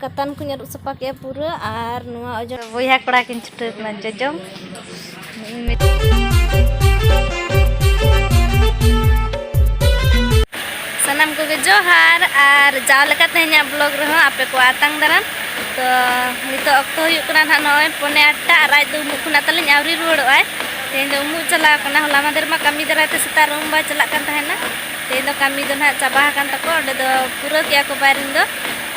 ᱠᱟᱛᱟᱱ ᱠᱚᱧ ᱟᱹᱨᱩᱵ ᱥᱟᱯᱷᱟ ᱠᱮᱫᱼᱟ ᱯᱩᱨᱟᱹ ᱟᱨ ᱱᱚᱣᱟ ᱚᱡᱚᱜ ᱵᱚᱭᱦᱟ ᱠᱚᱲᱟ ᱠᱤᱱ ᱪᱷᱩᱴᱟᱹᱣ ᱠᱟᱱᱟ ᱡᱚᱡᱚᱢ ᱥᱟᱱᱟᱢ ᱠᱚᱜᱮ ᱡᱚᱦᱟᱨ ᱟᱨ ᱡᱟᱣ ᱞᱮᱠᱟ ᱛᱮᱦᱮᱧᱟᱜ ᱵᱞᱚᱜ ᱨᱮᱦᱚᱸ ᱟᱯᱮ ᱠᱚ ᱟᱛᱟᱝ ᱫᱟᱨᱟᱢ ᱛᱚ ᱱᱤᱛᱚᱜ ᱚᱠᱛᱚ ᱦᱩᱭᱩᱜ ᱠᱟᱱᱟ ᱱᱟᱦᱟᱜ ᱱᱚᱜᱼᱚᱭ ᱯᱚᱱᱮ ᱟᱴᱴᱟ ᱟᱨ ᱟᱡ ᱫᱚ ᱩᱢᱩᱜ ᱠᱷᱚᱱᱟᱜ ᱛᱟᱹᱞᱤᱧ ᱟᱹᱣᱨᱤ ᱨᱩᱣᱟᱹᱲᱚᱜᱼᱟᱭ ᱛᱮᱦᱮᱧ ᱫᱚ ᱩᱢᱩᱜ ᱪᱟᱞᱟᱣ ᱠᱟᱱᱟ ᱦᱚᱞᱟ ᱢᱟᱫᱷᱮᱨ ᱢᱟ ᱠᱟᱹᱢᱤ ᱫᱟᱨᱟᱭ ᱛᱮ ᱥᱮᱛᱟᱜ ᱨᱩᱢ ᱵᱟᱭ ᱪᱟᱞᱟᱜ ᱠᱟᱱ ᱛᱟᱦᱮᱱᱟ ᱛᱮᱦᱮᱧ ᱫᱚ ᱠᱟᱹᱢᱤ ᱫᱚ ᱱᱟᱦᱟᱜ ᱪᱟᱵᱟ ᱟᱠᱟᱱ ᱛᱟᱠᱚᱣᱟ ᱚᱸᱰᱮ ᱫᱚ ᱯᱩᱨᱟᱹᱣ ᱠᱮᱜᱼᱟ ᱠᱚ ᱵᱟᱭᱨᱤᱝ ᱫᱚ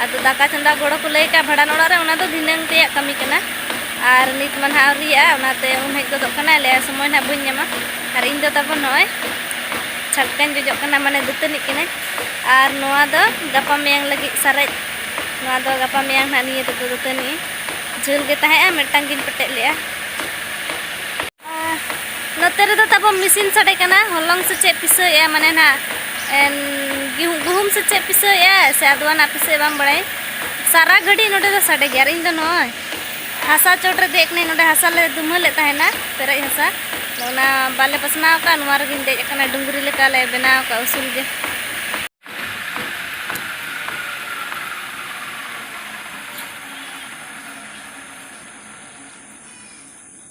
ᱟᱫᱚ ᱫᱟᱠᱟ ᱪᱚᱸᱫᱟ ᱜᱚᱲᱚ ᱠᱚ ᱞᱟᱹᱭ ᱠᱟᱜᱼᱟ ᱵᱷᱟᱸᱰᱟᱱ ᱚᱲᱟᱜ ᱨᱮ ᱚᱱᱟ ᱫᱚ ᱫᱷᱤᱱᱟᱹᱝ ᱨᱮᱭᱟᱜ ᱠᱟᱹᱢᱤ ᱠᱟᱱᱟ ᱟᱨ ᱱᱤᱛ ᱢᱟ ᱱᱟᱦᱟᱜ ᱟᱹᱣᱨᱤᱭᱟᱜᱼᱟ ᱚᱱᱟᱛᱮ ᱩᱢ ᱦᱮᱡ ᱜᱚᱫᱚᱜ ᱠᱟᱱᱟᱭ ᱞᱟᱹᱭᱟ ᱥᱚᱢᱚᱭ ᱱᱟᱦᱟᱜ ᱵᱟᱹᱧ ᱧᱟᱢᱟ ᱟᱨ ᱤᱧ ᱫᱚ ᱛᱟᱵᱚᱱ ᱱᱚᱜᱼᱚᱭ ᱪᱷᱟᱴᱠᱟᱧ ᱡᱚᱡᱚᱜ ᱠᱟᱱᱟ ᱢᱟᱱᱮ ᱫᱟᱹᱛᱟᱹᱱᱤᱜ ᱠᱟᱹᱱᱟᱹᱧ ᱟᱨ ᱱᱚᱣᱟ ᱫᱚ ᱜᱟᱯᱟ ᱢᱮᱭᱟᱝ ᱞᱟᱹᱜᱤᱫ ᱥᱟᱨᱮᱡ ᱱᱚᱣᱟ ᱫᱚ ᱜᱟᱯᱟ ᱢᱮᱭᱟᱝ ᱱᱟᱦᱟᱜ ᱱᱤᱭᱟᱹ ᱛᱮᱫᱚ ᱫᱟᱹᱛᱟᱹᱱᱤ ᱡᱷᱟᱹᱞ ᱜᱮ ᱛᱟᱦᱮᱸᱜᱼᱟ ᱢᱤᱫᱴᱟᱝ ᱜᱤᱧ ᱯᱮᱴᱮᱡ ᱞᱮᱜᱼᱟ ᱱᱚᱛᱮ ᱨᱮᱫᱚ ᱛᱟᱵᱚ ᱢᱮᱥᱤᱱ ᱥᱟᱰᱮ ᱠᱟᱱᱟ ᱦᱚᱞᱚᱝ ᱥᱮ ᱪᱮᱫ ᱯᱤᱥᱟᱹᱭᱮᱜᱼᱟ ᱢᱟᱱᱮ ᱱᱟᱜ ᱜᱩᱦᱩᱢ ᱥᱮ ᱪᱮᱫ ᱯᱤᱥᱟᱹᱭᱮᱜᱼᱟ ᱥᱮ ᱟᱫᱣᱟ ᱱᱟᱜ ᱯᱤᱥᱟᱹᱭ ᱵᱟᱝ ᱵᱟᱲᱟᱭ ᱥᱟᱨᱟ ᱜᱷᱟᱹᱲᱤ ᱱᱚᱰᱮ ᱫᱚ ᱥᱟᱰᱮ ᱜᱮᱭᱟ ᱟᱨ ᱤᱧ ᱫᱚ ᱱᱚᱜᱼᱚᱭ ᱦᱟᱥᱟ ᱪᱚᱴ ᱨᱮ ᱫᱮᱡ ᱠᱟᱹᱱᱟᱹᱧ ᱱᱚᱰᱮ ᱦᱟᱥᱟ ᱞᱮ ᱫᱩᱢᱟᱹᱞᱮᱫ ᱛᱟᱦᱮᱱᱟ ᱯᱮᱨᱮᱡ ᱦᱟᱥᱟ ᱚᱱᱟ ᱵᱟᱞᱮ ᱯᱟᱥᱱᱟᱣ ᱟᱠᱟᱫ ᱱᱚᱣᱟ ᱨᱮᱜᱮᱧ ᱫᱮᱡ ᱟᱠᱟᱱᱟ ᱰᱩᱝᱨᱤ ᱞᱮᱠᱟ ᱞᱮ ᱵᱮᱱᱟᱣ ᱟᱠᱟᱫ ᱩᱥᱩᱞ ᱜᱮ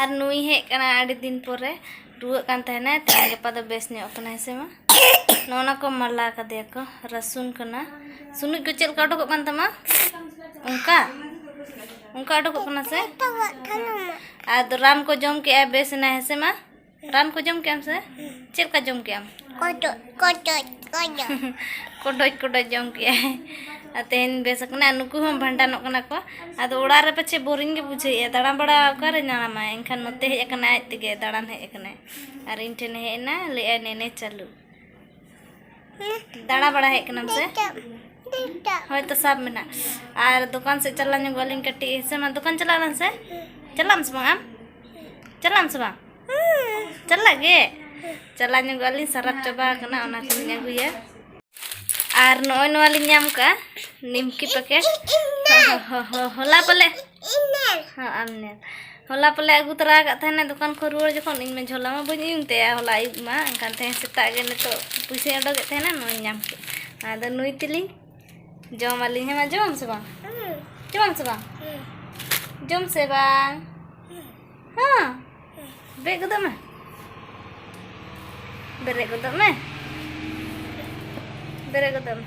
ᱟᱨ ᱱᱩᱭ ᱦᱮᱡ ᱠᱟᱱᱟ ᱟᱹᱰᱤ ᱫᱤᱱ ᱯᱚᱨᱮ ᱨᱩᱣᱟᱹᱜ ᱠᱟᱱ ᱛᱟᱦᱮᱱᱟᱭ ᱛᱮᱦᱮᱧ ᱜᱟᱯᱟ ᱫᱚ ᱵᱮᱥ ᱧᱚᱜ ᱠᱟᱱᱟᱭ ᱥᱮ ᱢᱟ ᱱᱚᱜᱼᱚ ᱱᱟ ᱠᱚ ᱢᱟᱞᱟ ᱠᱟᱫᱮᱭᱟ ᱠᱚ ᱨᱟᱹᱥᱩᱱ ᱠᱟᱱᱟ ᱥᱩᱱᱩᱡ ᱠᱚ ᱪᱮᱫ ᱞᱮᱠᱟ ᱚᱰᱚᱠᱚᱜ ᱠᱟᱱ ᱛᱟᱢᱟ ᱚᱱᱠᱟ ᱚᱱᱠᱟ ᱚᱰᱚᱠᱚᱜ ᱠᱟᱱᱟ ᱥᱮ ᱟᱫᱚ ᱨᱟᱱ ᱠᱚ ᱡᱚᱢ ᱠᱮᱜᱼᱟᱭ ᱵᱮᱥ ᱮᱱᱟᱭ ᱦᱮᱸ ᱥᱮ ᱢᱟ ᱨᱟᱱ ᱠᱚ ᱡᱚᱢ ᱠᱮᱜᱼᱟᱢ ᱥᱮ ᱪᱮᱫ ᱞᱮᱠᱟ ᱡᱚᱢ ᱠᱮᱜᱼᱟᱢ ᱠᱚᱴᱚᱡ ᱠᱚᱴᱚᱡ ᱠᱚᱴᱚᱡ ᱠᱚᱰᱚᱡ ᱠᱚᱰᱚᱡ ᱡᱚᱢ ᱠᱮᱜᱼᱟᱭ ᱟᱨ ᱛᱮᱦᱮᱧ ᱵᱮᱥ ᱟᱠᱟᱱᱟ ᱟᱨ ᱱᱩᱠᱩ ᱦᱚᱸ ᱵᱷᱟᱸᱰᱟᱱᱚᱜ ᱠᱟᱱᱟ ᱠᱚ ᱟᱫᱚ ᱚᱲᱟᱜ ᱨᱮ ᱯᱟᱪᱮ ᱵᱳᱨᱤᱝ ᱜᱮ ᱵᱩᱡᱷᱟᱹᱣᱮᱜᱼᱟ ᱫᱟᱬᱟ ᱵᱟᱲᱟ ᱚᱠᱟᱨᱮ ᱧᱟᱢᱟᱭ ᱮᱱᱠᱷᱟᱱ ᱱᱚᱛᱮ ᱦᱮᱡ ᱟᱠᱟᱱᱟᱭ ᱟᱡ ᱛᱮᱜᱮ ᱫᱟᱬᱟᱱ ᱦᱮᱡ ᱟᱠᱟᱱᱟᱭ ᱟᱨ ᱤᱧ ᱴᱷᱮᱱᱮ ᱦᱮᱡ ᱮᱱᱟ ᱞᱟᱹᱭᱮᱜᱼᱟᱭ ᱱᱮᱱᱮ ᱪᱟᱹᱞᱩ ᱫᱟᱬᱟ ᱵᱟᱲᱟ ᱦᱮᱡ ᱠᱟᱱᱟᱢ ᱥᱮ ᱦᱳᱭ ᱛᱚ ᱥᱟᱵ ᱢᱮᱱᱟᱜ ᱟᱨ ᱫᱚᱠᱟᱱ ᱥᱮᱫ ᱪᱟᱞᱟᱣ ᱧᱚᱜᱚᱜ ᱟᱹᱞᱤᱧ ᱠᱟᱹᱴᱤᱡ ᱦᱮᱸ ᱥᱮ ᱢᱟ ᱫᱚᱠᱟᱱ ᱪᱟᱞᱟᱜ ᱟᱞᱟᱝ ᱥᱮ ᱪᱟᱞᱟᱜ ᱟᱢ ᱥᱮ ᱵᱟᱝ ᱟᱢ ᱪᱟᱞᱟᱜ ᱟᱢ ᱥᱮ ᱵᱟᱝ ᱪᱟᱞᱟᱜ ᱜᱮ ᱪᱟᱞᱟᱣ ᱧᱚᱜᱚᱜ ᱟᱹᱞᱤᱧ ᱥᱟᱨᱟᱯ ᱪᱟᱵᱟ ᱟᱠᱟᱱᱟ ᱚᱱᱟ ᱠᱚᱞᱤᱧ ᱟᱹᱜᱩᱭᱟ ᱟᱨ ᱱᱚᱜᱼᱚᱭ ᱱᱚᱣᱟ ᱞᱤᱧ ᱧᱟᱢ ᱠᱟᱜᱼᱟ ᱱᱤᱢᱠᱤ ᱯᱮᱠᱮᱴ ᱦᱚᱞᱟ ᱯᱟᱞᱮ ᱟᱨ ᱧᱮᱞ ᱦᱚᱞᱟ ᱯᱟᱞᱮ ᱟᱹᱜᱩ ᱛᱚᱨᱟ ᱟᱠᱟᱫ ᱛᱟᱦᱮᱱᱟ ᱫᱚᱠᱟᱱ ᱠᱷᱚᱱ ᱨᱩᱣᱟᱹᱲ ᱡᱚᱠᱷᱚᱱ ᱤᱧᱢᱟ ᱡᱷᱚᱞᱟ ᱢᱟ ᱵᱟᱹᱧ ᱩᱭᱩᱝ ᱛᱟᱭᱟ ᱦᱚᱞᱟ ᱟᱹᱭᱩᱵ ᱢᱟ ᱮᱱᱠᱷᱟᱱ ᱛᱮᱦᱮᱧ ᱥᱮᱛᱟᱜ ᱜᱮ ᱱᱤᱛᱚᱜ ᱯᱩᱭᱥᱟᱹᱧ ᱚᱰᱚᱠᱮᱫ ᱛᱟᱦᱮᱱᱟ ᱱᱚᱣᱟᱧ ᱧᱟᱢ ᱠᱮᱫ ᱟᱫᱚ ᱱᱩᱭ ᱛᱮᱞᱤᱧ ᱡᱚᱢ ᱟᱹᱞᱤᱧ ᱦᱮᱸ ᱢᱟ ᱡᱚᱢ ᱥᱮ ᱵᱟᱝ ᱡᱚᱢ ᱥᱮ ᱵᱟᱝ ᱡᱚᱢ ᱥᱮ ᱵᱟᱝ ᱦᱮᱸ ᱵᱮᱜ ᱜᱚᱫᱚᱜ ᱢᱮ ᱵᱮᱨᱮᱫ ᱜᱚᱫᱚᱜ ᱢᱮ ᱵᱮᱨᱮᱫ ᱜᱚᱫᱚᱜ ᱢᱮ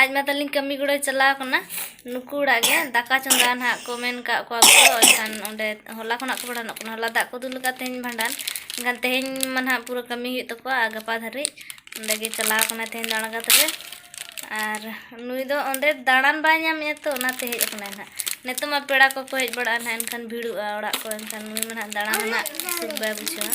ᱟᱡ ᱢᱟ ᱛᱟᱹᱞᱤᱧ ᱠᱟᱹᱢᱤ ᱜᱚᱲᱚᱭ ᱪᱟᱞᱟᱣ ᱠᱟᱱᱟ ᱱᱩᱠᱩ ᱚᱲᱟᱜ ᱜᱮ ᱫᱟᱠᱟ ᱪᱚᱸᱫᱟ ᱱᱟᱦᱟᱜ ᱠᱚ ᱢᱮᱱ ᱠᱟᱜ ᱠᱚᱣᱟ ᱜᱚᱲᱚ ᱮᱱᱠᱷᱟᱱ ᱚᱸᱰᱮ ᱦᱚᱞᱟ ᱠᱷᱚᱱᱟᱜ ᱠᱚ ᱵᱷᱟᱸᱰᱟᱱᱚᱜ ᱠᱟᱱᱟ ᱦᱚᱞᱟ ᱫᱟᱜ ᱠᱚ ᱫᱩᱞ ᱟᱠᱟᱫ ᱛᱮᱦᱮᱧ ᱵᱷᱟᱸᱰᱟᱱ ᱮᱱᱠᱷᱟᱱ ᱛᱮᱦᱮᱧ ᱢᱟ ᱱᱟᱦᱟᱜ ᱯᱩᱨᱟᱹ ᱠᱟᱹᱢᱤ ᱦᱩᱭᱩᱜ ᱛᱟᱠᱚᱣᱟ ᱟᱨ ᱜᱟᱯᱟ ᱫᱷᱟᱹᱨᱤᱡ ᱚᱸᱰᱮ ᱜᱮ ᱪᱟᱞᱟᱣ ᱠᱟᱱᱟᱭ ᱛᱮᱦᱮᱧ ᱫᱚ ᱟᱬᱜᱟᱛ ᱨᱮ ᱟᱨ ᱱᱩᱭ ᱫᱚ ᱚᱸᱰᱮ ᱫᱟᱬᱟᱱ ᱵᱟᱭ ᱧᱟᱢᱮᱜᱼᱟ ᱛᱚ ᱚᱱᱟᱛᱮ ᱦᱮᱡ ᱟᱠᱟᱱᱟᱭ ᱱᱟᱦᱟᱜ ᱱᱤᱛᱚᱜ ᱢᱟ ᱯᱮᱲᱟ ᱠᱚᱠᱚ ᱦᱮᱡ ᱵᱟᱲᱟᱜᱼᱟ ᱱᱟᱦᱟᱜ ᱮᱱᱠᱷᱟᱱ ᱵᱷᱤᱲᱚᱜᱼᱟ ᱚᱲᱟᱜ ᱠᱚ ᱮᱱᱠᱷᱟᱱ ᱱᱩᱭ ᱢᱟ ᱱᱟᱦᱟᱜ ᱫᱟᱬᱟᱱ ᱨᱮᱱᱟᱜ ᱥᱩᱠ ᱵᱟᱭ ᱵᱩᱡᱷᱟᱹᱣᱟ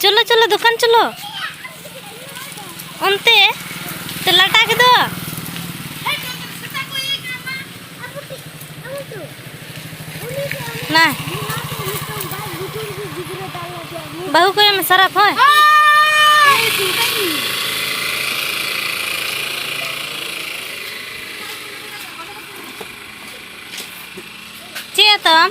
ᱪᱚᱞᱚ ᱪᱚᱞᱚ ᱫᱚᱠᱟᱱ ᱪᱚᱞᱚ ᱚᱱᱛᱮ ᱛᱮ ᱞᱟᱴᱟ ᱠᱮᱫᱚ ᱱᱟ ᱵᱟᱹᱦᱩ ᱠᱚ ᱮᱢ ᱥᱟᱨᱟᱯ ᱦᱳᱭ ᱪᱮᱫ ᱛᱟᱢ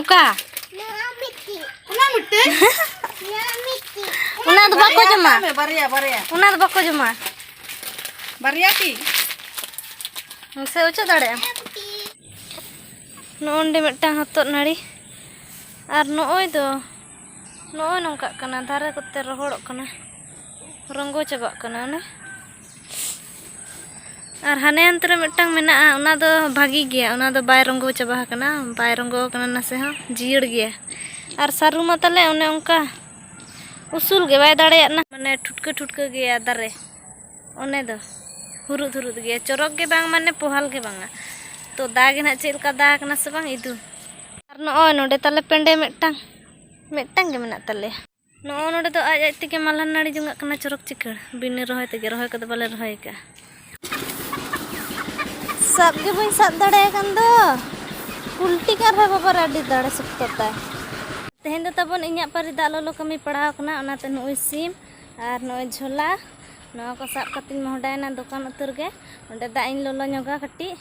ᱚᱠᱟ ᱚᱱᱟ ᱢᱤᱫᱴᱮᱡ ᱚᱱᱟ ᱫᱚ ᱵᱟᱠᱚ ᱡᱚᱢᱟ ᱵᱟᱨᱭᱟ ᱵᱟᱨᱭᱟ ᱚᱱᱟ ᱫᱚ ᱵᱟᱠᱚ ᱡᱚᱢᱟ ᱵᱟᱨᱭᱟ ᱛᱤ ᱥᱮ ᱚᱪᱚᱜ ᱫᱟᱲᱮᱭᱟᱜᱼᱟ ᱱᱚᱜᱼᱚᱸᱰᱮ ᱢᱤᱫᱴᱟᱝ ᱦᱚᱛᱚᱫ ᱱᱟᱹᱲᱤ ᱟᱨ ᱱᱚᱜᱼᱚᱭ ᱫᱚ ᱱᱚᱜᱼᱚᱭ ᱱᱚᱝᱠᱟᱜ ᱠᱟᱱᱟ ᱫᱟᱨᱮ ᱠᱚᱛᱮ ᱨᱚᱦᱚᱲᱚᱜ ᱠᱟᱱᱟ ᱨᱚᱸᱜᱚ ᱪᱟᱵᱟᱜ ᱠᱟᱱᱟ ᱚᱱᱮ ᱟᱨ ᱦᱟᱱᱮ ᱦᱟᱱᱛᱮ ᱨᱮ ᱢᱤᱫᱴᱟᱝ ᱢᱮᱱᱟᱜᱼᱟ ᱚᱱᱟ ᱫᱚ ᱵᱷᱟᱹᱜᱤ ᱜᱮᱭᱟ ᱚᱱᱟ ᱫᱚ ᱵᱟᱭ ᱨᱚᱸᱜᱚ ᱪᱟᱵᱟ ᱟᱠᱟᱱᱟ ᱵᱟᱭ ᱨᱚᱸᱜᱚ ᱟᱠᱟᱱᱟ ᱱᱟᱥᱮ ᱦᱚᱸ ᱡᱤᱭᱟᱹᱲ ᱜᱮᱭᱟ ᱟᱨ ᱥᱟᱹᱨᱩ ᱢᱟ ᱛᱟᱞᱮ ᱚᱱᱮ ᱚᱱᱠᱟ ᱩᱥᱩᱞ ᱜᱮ ᱵᱟᱭ ᱫᱟᱲᱮᱭᱟᱜ ᱠᱟᱱᱟ ᱢᱟᱱᱮ ᱴᱷᱩᱴᱠᱟᱹ ᱴᱷᱩᱴᱠᱟᱹ ᱜᱮᱭᱟ ᱫᱟᱨᱮ ᱚᱱᱮ ᱫᱚ ᱦᱩᱨᱩᱫ ᱦᱩᱨᱩᱫ ᱜᱮᱭᱟ ᱪᱚᱨᱚᱠ ᱜᱮ ᱵᱟᱝ ᱢᱟᱱᱮ ᱯᱚᱦᱟᱞ ᱜᱮ ᱵᱟᱝᱟ ᱛᱚ ᱫᱟ ᱜᱮ ᱱᱟᱜ ᱪᱮᱫ ᱞᱮᱠᱟ ᱫᱟ ᱟᱠᱟᱱᱟ ᱥᱮ ᱵᱟᱝ ᱤᱫᱩ ᱟᱨ ᱱᱚᱜᱼᱚᱭ ᱱᱚᱰᱮ ᱛᱟᱞᱮ ᱯᱮᱸᱰᱮ ᱢᱤᱫᱴᱟᱝ ᱢᱤᱫᱴᱟᱝ ᱜᱮ ᱢᱮᱱᱟᱜ ᱛᱟᱞᱮᱭᱟ ᱱᱚᱜᱼᱚ ᱱᱚᱰᱮ ᱫᱚ ᱟᱡ ᱟᱡ ᱛᱮᱜᱮ ᱢᱟᱞᱦᱟ ᱱᱟᱹᱲᱤ ᱡᱚᱝᱟᱜ ᱠᱟᱱᱟ ᱪᱚᱨᱚᱠ ᱪᱤᱠᱟᱹᱲ ᱵᱤᱱᱟᱹ ᱨᱚᱦᱚᱭ ᱛᱮᱜᱮ ᱨᱚᱦᱚᱭ ᱠᱚᱫᱚ ᱵᱟᱞᱮ ᱨᱚᱦᱚᱭ ᱟᱠᱟᱫᱼᱟ ᱥᱟᱵ ᱜᱮ ᱵᱟᱹᱧ ᱥᱟᱵ ᱫᱟᱲᱮᱭᱟᱜ ᱠᱟᱱ ᱫᱚ ᱯᱩᱞᱴᱤ ᱠᱟᱱ ᱨᱮᱦᱚᱸ ᱵᱟᱵᱟᱨ ᱟᱹᱰᱤ ᱫᱟᱲᱮ ᱥᱚᱠᱛᱚ ᱛᱟᱭ ᱛᱮᱦᱮᱧ ᱫᱚ ᱛᱟᱵᱚᱱ ᱤᱧᱟᱹᱜ ᱯᱟᱹᱨᱤ ᱫᱟᱜ ᱞᱚᱞᱚ ᱠᱟᱹᱢᱤ ᱯᱟᱲᱟᱣ ᱠᱟᱱᱟ ᱚᱱᱟᱛᱮ ᱱᱚᱜᱼᱚᱭ ᱥᱤᱢ ᱟᱨ ᱱᱚᱜᱼᱚᱭ ᱡᱷᱚᱞᱟ ᱱᱚᱣᱟ ᱠᱚ ᱥᱟᱵ ᱠᱟᱛᱮᱧ ᱢᱚᱦᱰᱟᱭᱮᱱᱟ ᱫᱚᱠᱟᱱ ᱩᱛᱟᱹᱨ ᱜᱮ ᱚᱸᱰᱮ ᱫᱟᱜ ᱤᱧ ᱞᱚᱞᱚ ᱧᱚᱜᱟ ᱠᱟᱹᱴᱤᱡ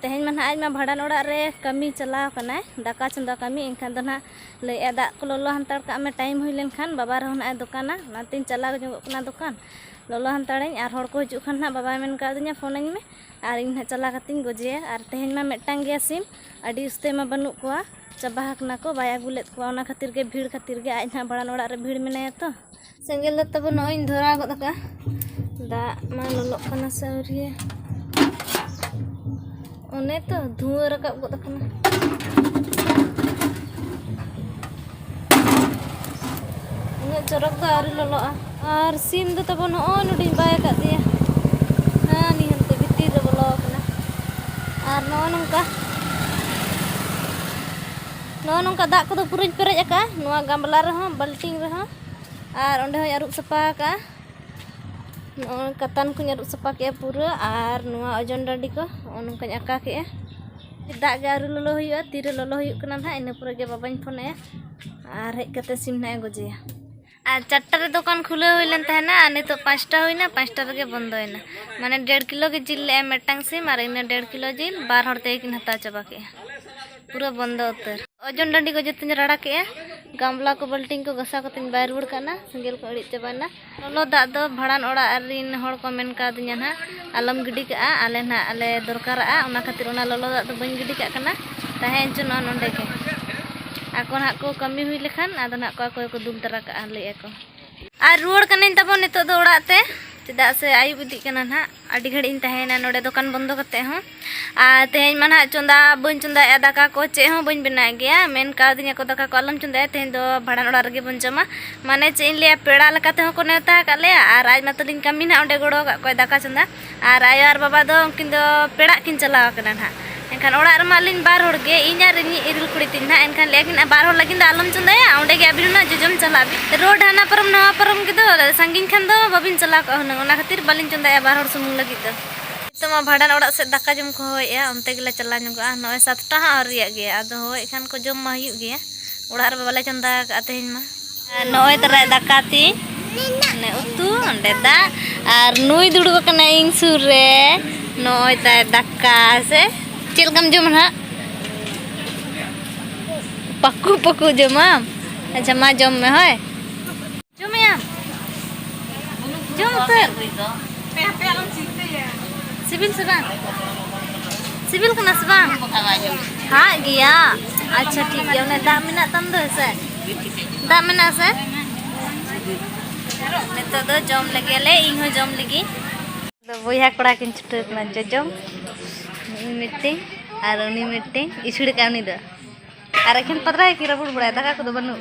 ᱛᱮᱦᱮᱧ ᱢᱟ ᱱᱟᱦᱟᱜ ᱟᱡ ᱢᱟ ᱵᱷᱟᱸᱰᱟᱱ ᱚᱲᱟᱜ ᱨᱮ ᱠᱟᱹᱢᱤ ᱪᱟᱞᱟᱣ ᱠᱟᱱᱟᱭ ᱫᱟᱠᱟ ᱪᱚᱸᱫᱟ ᱠᱟᱹᱢᱤ ᱮᱱᱠᱷᱟᱱ ᱫᱚ ᱱᱟᱦᱟᱜ ᱞᱟᱹᱭᱮᱜᱼᱟ ᱫᱟᱜ ᱠᱚ ᱞᱚᱞᱚ ᱦᱟᱱᱛᱟᱲ ᱠᱟᱜ ᱢᱮ ᱴᱟᱭᱤᱢ ᱦᱩᱭ ᱞᱮᱱᱠᱷᱟᱱ ᱵᱟᱵᱟ ᱨᱮᱦᱚᱸ ᱱᱟᱦᱟᱜ ᱮ ᱫᱚᱠᱟᱱᱟ ᱚᱱᱟᱛᱤᱧ ᱪᱟᱞᱟᱣ ᱧᱚᱜᱚᱜ ᱠᱟᱱᱟ ᱫᱚᱠᱟᱱ ᱞᱚᱞᱚ ᱦᱟᱱᱛᱟᱲᱟᱹᱧ ᱟᱨ ᱦᱚᱲ ᱠᱚ ᱦᱤᱡᱩᱜ ᱠᱷᱟᱱ ᱱᱟᱦᱟᱜ ᱵᱟᱵᱟᱭ ᱢᱮᱱ ᱠᱟᱣᱫᱤᱧᱟ ᱯᱷᱳᱱᱟᱹᱧ ᱢᱮ ᱟᱨ ᱤᱧ ᱱᱟᱦᱟᱜ ᱪᱟᱞᱟᱣ ᱠᱟᱛᱮᱧ ᱜᱚᱡᱮᱭᱟ ᱟᱨ ᱛᱮᱦᱮᱧ ᱢᱟ ᱢᱤᱫᱴᱟᱝ ᱜᱮᱭᱟ ᱥᱤᱢ ᱟᱹᱰᱤ ᱩᱥᱛᱟᱹᱭ ᱢᱟ ᱵᱟᱹᱱᱩᱜ ᱠᱚᱣᱟ ᱪᱟᱵᱟ ᱟᱠᱟᱱᱟ ᱠᱚ ᱵᱟᱭ ᱟᱹᱜᱩ ᱞᱮᱫ ᱠᱚᱣᱟ ᱚᱱᱟ ᱠᱷᱟᱹᱛᱤᱨ ᱜᱮ ᱵᱷᱤᱲ ᱠᱷᱟᱹᱛᱤᱨ ᱜᱮ ᱟᱡ ᱱᱟᱦᱟᱜ ᱵᱷᱟᱸᱰᱟᱱ ᱚᱲᱟᱜ ᱨᱮ ᱵᱷᱤᱲ ᱢᱮᱱᱟᱭᱟ ᱛᱚ ᱥᱮᱸᱜᱮᱞ ᱫᱚ ᱛᱟᱵᱚ ᱱᱚᱜᱼᱚᱭ ᱤᱧ ᱫᱷᱚᱨᱟᱣ ᱜᱚᱫ ᱟᱠᱟᱫᱼᱟ ᱫᱟᱜ ᱢᱟ ᱞᱚᱞᱚᱜ ᱠᱟᱱᱟ ᱥᱮ ᱟᱹᱣᱨᱤᱭᱟ ᱚᱱᱮ ᱛᱚ ᱫᱷᱩᱣᱟᱹ ᱨᱟᱠᱟᱵ ᱜᱚᱫ ᱟᱠᱟᱱᱟ ᱩᱱᱟᱹᱜ ᱪᱚᱨᱚᱠ ᱫᱚ ᱟᱹᱣᱨᱤ ᱞᱚᱞᱚᱜᱼᱟ ᱟᱨ ᱥᱤᱢ ᱫᱚ ᱛᱟᱵᱚ ᱱᱚᱜᱼᱚᱭ ᱱᱚᱰᱮᱧ ᱵᱟᱭ ᱟᱠᱟᱫ ᱫᱮᱭᱟ ᱦᱮᱸ ᱱᱤᱭᱟᱹ ᱦᱟᱱᱛᱮ ᱵᱷᱤᱛᱤᱨ ᱨᱮ ᱵᱚᱞᱚ ᱟᱠᱟᱱᱟ ᱟᱨ ᱱᱚᱜᱼᱚ ᱱᱚᱝᱠᱟ ᱱᱚᱜᱼᱚ ᱱᱚᱝᱠᱟ ᱫᱟᱜ ᱠᱚᱫᱚ ᱯᱩᱨᱟᱹᱧ ᱯᱮᱨᱮᱡ ᱟᱠᱟᱫᱼᱟ ᱱᱚᱣᱟ ᱜᱟᱢᱞᱟ ᱨᱮᱦᱚᱸ ᱵᱟᱹᱞᱴᱤᱱ ᱨᱮᱦᱚᱸ ᱟᱨ ᱚᱸᱰᱮ ᱦᱚᱸᱧ ᱟᱹᱨᱩᱵ ᱥᱟᱯᱷᱟ ᱟᱠᱟᱜᱼᱟ ᱱᱚᱜᱼᱚᱭ ᱠᱟᱛᱟᱱ ᱠᱚᱧ ᱟᱹᱨᱩᱵ ᱥᱟᱯᱷᱟ ᱠᱮᱜᱼᱟ ᱯᱩᱨᱟᱹ ᱟᱨ ᱱᱚᱣᱟ ᱚᱡᱚᱱ ᱰᱟᱹᱰᱤ ᱠᱚ ᱱᱚᱜᱼᱚ ᱱᱚᱝᱠᱟᱧ ᱟᱠᱟ ᱠᱮᱜᱼᱟ ᱫᱟᱜ ᱜᱮ ᱟᱹᱣᱨᱤ ᱞᱚᱞᱚ ᱦᱩᱭᱩᱜᱼᱟ ᱛᱤᱨᱮ ᱞᱚᱞᱚ ᱦᱩᱭᱩᱜ ᱠᱟᱱᱟ ᱱᱟᱦᱟᱜ ᱤᱱᱟᱹ ᱯᱚᱨᱮ ᱜᱮ ᱵᱟᱵᱟᱧ ᱯᱷᱳᱱ ᱟᱭᱟ ᱟᱨ ᱦᱮᱡ ᱠᱟᱛᱮ ᱥᱤᱢ ᱱᱟᱦᱟᱜ ᱮ ᱜᱚᱡᱮᱭᱟ ᱟᱨ ᱪᱟᱨᱴᱟ ᱨᱮ ᱫᱚᱠᱟᱱ ᱠᱷᱩᱞᱟᱹᱣ ᱦᱩᱭ ᱞᱮᱱ ᱛᱟᱦᱮᱱᱟ ᱟᱨ ᱱᱤᱛᱚᱜ ᱯᱟᱸᱪᱴᱟ ᱦᱩᱭᱱᱟ ᱯᱟᱸᱪᱴᱟ ᱨᱮᱜᱮ ᱵᱚᱱᱫᱚᱭᱮᱱᱟ ᱢᱟᱱᱮ ᱰᱮᱲ ᱠᱤᱞᱳ ᱜᱮ ᱡᱤᱞ ᱞᱮᱜᱼᱟᱭ ᱢᱤᱫᱴᱟᱝ ᱥᱤᱢ ᱟᱨ ᱤᱱᱟᱹ ᱰᱮᱲ ᱠᱤᱞᱳ ᱡᱤᱞ ᱵᱟᱨ ᱦᱚᱲ ᱛᱮᱜᱮ ᱠᱤᱱ ᱦᱟᱛᱟᱣ ᱪᱟᱵᱟ ᱠᱮᱜᱼᱟ ᱯᱩᱨᱟᱹ ᱵᱚᱱᱫᱚ ᱩᱛᱟᱹᱨ ᱚᱡᱚᱱ ᱰᱟᱺᱰᱤ ᱠᱚ ᱡᱚᱛᱚᱧ ᱨᱟᱲᱟ ᱠᱮᱜᱼᱟ ᱜᱟᱢᱞᱟ ᱠᱚ ᱵᱟᱹᱞᱴᱤᱝ ᱠᱚ ᱜᱷᱟᱥᱟᱣ ᱠᱟᱛᱮᱧ ᱵᱟᱭ ᱨᱩᱣᱟᱹᱲ ᱠᱟᱱᱟ ᱥᱮᱸᱜᱮᱞ ᱠᱚ ᱟᱹᱲᱤᱡ ᱪᱟᱵᱟᱭᱮᱱᱟ ᱞᱚᱞᱚ ᱫᱟᱜ ᱫᱚ ᱵᱷᱟᱲᱟᱱ ᱚᱲᱟᱜ ᱨᱤᱱ ᱦᱚᱲ ᱠᱚ ᱢᱮᱱ ᱠᱟᱣᱫᱤᱧᱟ ᱱᱟᱜ ᱟᱞᱚᱢ ᱜᱤᱰᱤ ᱠᱟᱜᱼᱟ ᱟᱞᱮ ᱱᱟᱜ ᱟᱞᱮ ᱫᱚᱨᱠᱟᱨᱟᱜᱼᱟ ᱚᱱᱟ ᱠᱷᱟᱹᱛᱤᱨ ᱚᱱᱟ ᱞᱚᱞᱚ ᱫᱟᱜ ᱫᱚ ᱵᱟᱹᱧ ᱜᱤᱰᱤ ᱠᱟᱜ ᱠᱟᱱᱟ ᱛᱟᱦᱮᱸ ᱦᱚᱪᱚ ᱱᱚᱣᱟ ᱱᱚᱰᱮ ᱜᱮ ᱟᱠᱚ ᱱᱟᱜ ᱠᱚ ᱠᱟᱹᱢᱤ ᱦᱩᱭ ᱞᱮᱠᱷᱟᱱ ᱟᱫᱚ ᱱᱟᱜ ᱠᱚ ᱟᱠᱚ ᱜᱮᱠᱚ ᱫᱩᱞ ᱛᱟᱨᱟ ᱠᱟᱜᱼᱟ ᱞᱟᱹᱭᱮᱫᱼᱟ ᱠᱚ ᱟᱨ ᱨᱩᱣᱟᱹᱲ ᱠᱟᱹᱱᱟᱹᱧ ᱛᱟᱵᱚᱱ ᱱᱤᱛᱚᱜ ᱫᱚ ᱚᱲᱟᱜ ᱛᱮ ᱪᱮᱫᱟᱜ ᱥᱮ ᱟᱹᱭᱩᱵ ᱤᱫᱤᱜ ᱠᱟᱱᱟ ᱱᱟᱜ ᱟᱹᱰᱤ ᱜᱷᱟᱹᱲᱤᱡ ᱤᱧ ᱛᱟᱦᱮᱸᱭᱮᱱᱟ ᱱᱚᱰᱮ ᱫᱚᱠᱟᱱ ᱵᱚᱱᱫᱚ ᱠᱟᱛᱮ ᱦᱚᱸ ᱟᱨ ᱛᱮᱦᱮᱧ ᱢᱟ ᱱᱟᱜ ᱪᱚᱸᱫᱟ ᱵᱟᱹᱧ ᱪᱚᱸᱫᱟᱭᱮᱜᱼᱟ ᱫᱟᱠᱟ ᱠᱚ ᱪᱮᱫ ᱦᱚᱸ ᱵᱟᱹᱧ ᱵᱮᱱᱟᱣ ᱜᱮᱭᱟ ᱢᱮᱱ ᱠᱟᱣᱫᱤᱧᱟ ᱠᱚ ᱫᱟᱠᱟ ᱠᱚ ᱟᱞᱚᱢ ᱪᱚᱸᱫᱟᱭᱟ ᱛᱮᱦᱮᱧ ᱫᱚ ᱵᱷᱟᱲᱟᱱ ᱚᱲᱟᱜ ᱨᱮᱜᱮ ᱵᱚᱱ ᱡᱚᱢᱟ ᱢᱟᱱᱮ ᱪᱮᱫ ᱤᱧ ᱞᱟᱹᱭᱟ ᱯᱮᱲᱟ ᱞᱮᱠᱟ ᱛᱮᱦᱚᱸ ᱠᱚ ᱱᱮᱣᱛᱟ ᱟᱠᱟᱫ ᱞᱮᱭᱟ ᱟᱨ ᱟᱡ ᱢᱟᱛᱚᱞᱤᱧ ᱠᱟᱹᱢᱤ ᱱᱟᱜ ᱚᱸᱰᱮ ᱜᱚᱲᱚ ᱟᱠᱟᱫ ᱠᱚᱣᱟᱭ ᱫᱟᱠᱟ ᱪᱚᱸᱫᱟ ᱟᱨ ᱟᱭᱳ ᱟᱨ ᱵᱟᱵᱟ ᱫᱚ ᱩᱱᱠᱤᱱ ᱫᱚ ᱯᱮᱲᱟᱜ ᱠᱤᱱ ᱪᱟᱞᱟᱣ ᱟᱠᱟᱱᱟ ᱱᱟᱦᱟᱜ ᱮᱱᱠᱷᱟᱱ ᱚᱲᱟᱜ ᱨᱮᱢᱟ ᱟᱹᱞᱤᱧ ᱵᱟᱨ ᱦᱚᱲ ᱜᱮ ᱤᱧ ᱟᱨ ᱤᱧᱤᱡ ᱤᱨᱤᱞ ᱠᱩᱲᱤ ᱛᱤᱧ ᱱᱟᱦᱟᱜ ᱮᱱᱠᱷᱟᱱ ᱞᱟᱹᱭ ᱟᱹᱠᱤᱱ ᱵᱟᱨ ᱦᱚᱲ ᱞᱟᱹᱜᱤᱫ ᱫᱚ ᱟᱞᱚᱢ ᱪᱚᱸᱫᱟᱭᱟ ᱚᱸᱰᱮ ᱜᱮ ᱟᱹᱵᱤᱱ ᱦᱩᱱᱟᱹᱝ ᱡᱚᱡᱚᱢ ᱪᱟᱞᱟᱜ ᱵᱤᱱ ᱨᱳᱰ ᱦᱟᱱᱟ ᱯᱟᱨᱚᱢ ᱱᱟᱣᱟ ᱯᱟᱨᱚᱢ ᱜᱮᱫᱚ ᱥᱟᱺᱜᱤᱧ ᱠᱷᱟᱱ ᱫᱚ ᱵᱟᱹᱵᱤᱱ ᱪᱟᱞᱟᱣ ᱠᱚᱜᱼᱟ ᱦᱩᱱᱟᱹᱝ ᱚᱱᱟ ᱠᱷᱟᱹᱛᱤᱨ ᱵᱟᱹᱞᱤᱧ ᱪᱚᱸᱫᱟᱭᱟ ᱵᱟᱨ ᱦᱚᱲ ᱥᱩᱢᱩᱝ ᱞᱟᱹᱜᱤᱫ ᱫᱚ ᱱᱤᱛᱚᱜ ᱢᱟ ᱵᱷᱟᱸᱰᱟᱱ ᱚᱲᱟᱜ ᱥᱮᱫ ᱫᱟᱠᱟ ᱡᱚᱢ ᱠᱚ ᱦᱚᱦᱚᱭᱮᱫᱼᱟ ᱚᱱᱛᱮ ᱜᱮᱞᱮ ᱪᱟᱞᱟᱣ ᱧᱚᱜᱚᱜᱼᱟ ᱱᱚᱜᱼᱚᱭ ᱥᱟᱛᱴᱟ ᱦᱚᱸ ᱟᱹᱣᱨᱤᱭᱟᱜ ᱜᱮᱭᱟ ᱟᱫᱚ ᱦᱚᱦᱚᱭᱮᱫ ᱠᱷᱟᱱ ᱠᱚ ᱡᱚᱢ ᱢᱟ ᱦᱩᱭᱩᱜ ᱜᱮᱭᱟ ᱚᱲᱟᱜ ᱨᱮᱢᱟ ᱵᱟᱞᱮ ᱪᱚᱸᱫᱟ ᱟᱠᱟᱫᱼᱟ ᱛᱮᱦᱮᱧ ᱢᱟ ᱱᱚᱜᱼᱚᱭ ᱛᱟᱨᱟᱭ ᱫᱟᱠᱟ ᱛᱤᱧ ᱚᱱᱮ ᱩᱛᱩ ᱚᱸᱰᱮ ᱫᱟᱜ ᱟᱨ ᱱᱩᱭ ᱫᱩᱲᱩᱵ ᱟᱠᱟᱱᱟ ᱤᱧ ᱥᱩᱨ ᱨᱮ ᱱᱚᱜᱼᱚᱭ ᱛᱟᱭ ᱫᱟᱠᱟ ᱥᱮ ᱪᱮᱫ ᱞᱮᱠᱟᱢ ᱡᱚᱢᱟ ᱱᱟᱦᱟᱜ ᱯᱟᱠᱩ ᱯᱟᱠᱩ ᱡᱚᱢᱟᱢ ᱟᱪᱪᱷᱟ ᱢᱟ ᱡᱚᱢ ᱢᱮ ᱦᱳᱭ ᱡᱚᱢᱮᱭᱟᱢ ᱡᱚᱢ ᱩᱛᱟᱹᱨ ᱥᱤᱵᱤᱞ ᱥᱮ ᱵᱟᱝ ᱥᱤᱵᱤᱞ ᱠᱟᱱᱟ ᱥᱮ ᱵᱟᱝ ᱦᱟᱜ ᱜᱮᱭᱟ ᱟᱪᱪᱷᱟ ᱴᱷᱤᱠ ᱜᱮᱭᱟ ᱚᱱᱮ ᱫᱟᱜ ᱢᱮᱱᱟᱜ ᱛᱟᱢ ᱫᱚ ᱦᱮᱸᱥᱮ ᱫᱟᱜ ᱢᱮᱱᱟᱜᱼᱟ ᱥᱮ ᱱᱤᱛᱚᱜ ᱫᱚ ᱡᱚᱢ ᱞᱮᱜᱮ ᱞᱮ ᱤᱧ ᱦᱚᱸ ᱡᱚᱢ ᱞᱮᱜᱮ ᱫᱚ ᱵᱚᱭᱦᱟ ᱠᱚᱲᱟ ᱠᱤᱱ ᱪᱷᱩᱴᱟᱹᱣ ᱠᱟᱱᱟ ᱡᱚᱡᱚᱢ ᱤᱧ ᱢᱤᱫᱴᱤᱧ ᱟᱨ ᱩᱱᱤ ᱢᱤᱫᱴᱤᱧ ᱤᱥᱩᱲ ᱠᱟᱜ ᱩᱱᱤ ᱫᱚ ᱟᱨ ᱮᱠᱷᱮᱱ ᱯᱟᱛᱲᱟ ᱜᱮᱠᱤᱱ ᱨᱟᱹᱯᱩᱫ ᱵᱟᱲᱟᱭᱟ ᱫᱟᱠᱟ ᱠᱚᱫᱚ ᱵᱟᱹᱱᱩᱜ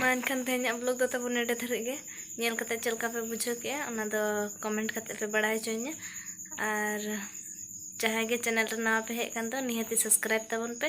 ᱢᱟ ᱮᱱᱠᱷᱟᱱ ᱛᱮᱦᱮᱧᱟᱜ ᱵᱞᱚᱜ ᱫᱚ ᱛᱟᱵᱚᱱ ᱱᱮᱰᱮ ᱫᱷᱟᱹᱨᱤᱡ ᱜᱮ ᱧᱮᱞ ᱠᱟᱛᱮ ᱪᱮᱫ ᱞᱮᱠᱟ ᱯᱮ ᱵᱩᱡᱷᱟᱹᱣ ᱠᱮᱜᱼᱟ ᱚᱱᱟ ᱫᱚ ᱠᱚᱢᱮᱱᱴ ᱠᱟᱛᱮ ᱯᱮ ᱵᱟᱲᱟᱭ ᱦᱚᱪᱚᱧᱟ ᱟᱨ ᱡᱟᱦᱟᱸᱭ ᱜᱮ ᱪᱮᱱᱮᱞ ᱨᱮ ᱱᱟᱣᱟ ᱯᱮ ᱦᱮᱡ ᱠᱟᱱ ᱫᱚ ᱱᱤᱦᱟᱹᱛᱤ ᱥᱟᱵᱥᱠᱨᱟᱭᱤᱵ ᱛᱟᱵᱚᱱ ᱯᱮ